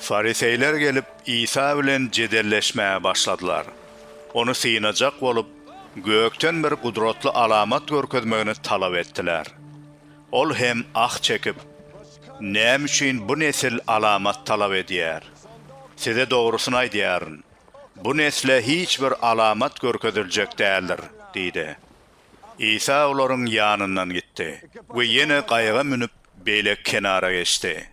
Fariseýler gelip, Isa bilen jedelleşmäge başladylar. Ony synajak bolup, gökden bir gudratly alamat görkezmegini talap etdiler. Ol hem ah çekip, Näme üçin bu nesil alamat talap edýär? Size dogrusyny aýdýaryn, bu nesle hiç bir alamat görkeziljek däldir diýdi. Isa olaryň ýanyndan gitdi we ýene gaýyga münüp, beýleki kenara geçdi.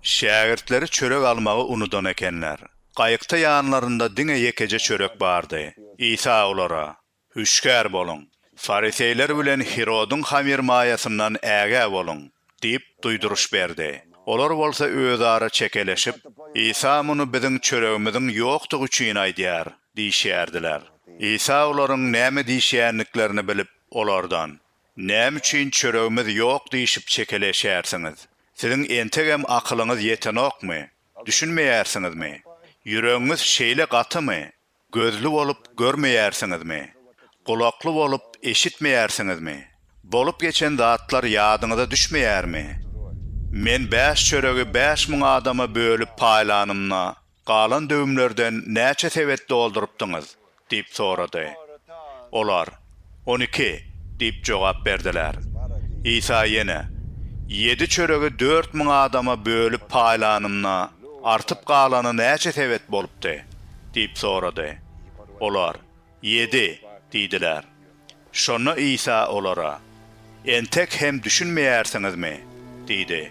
Şägirtleri çörek almagy unudan ekenler. Gaýykda ýanlarynda diňe ýekeje çörek bardy. Isa olara, Hüşgär boluň! Fariseýler bilen Hirodyň hamyrmaýasyndan ägä boluň! Diýip, duýduryş berdi. Olar bolsa özara çekeleşip, Isa muny biziň çöregimiziň ýokdugy üçin aýdýar diýişýärdiler. Isa olaryň näme diýişýändiklerini bilip, olardan, Näme üçin çöregimiz ýok diýşip çekeleşýärsiňiz? Siziň entegem akylyňyz ýetenokmy? Düşünmeýärsiňizmi? Ýüregiňiz şeýle gatymy? Gözli bolup görmeýärsiňizmi? Gulakly bolup eşitmeýärsiňizmi? Bolup geçen zatlar ýadyňyza düşmeýärmi? Men bäş çöregi bäş müň adama bölüp paýlanymda, galan döwümlerden näçe sebet doldurypdyňyz? diýip sorady. Olar, On iki diýip jogap berdiler. Isa ýene, Ýedi çöregi dört müň adama bölüp paýlanymda, artyp galany näçe sebet bolupdy? diýip sorady. Olar, Ýedi diýdiler. Şonda Isa olara, Entek hem düşünmeýärsiňizmi? diýdi.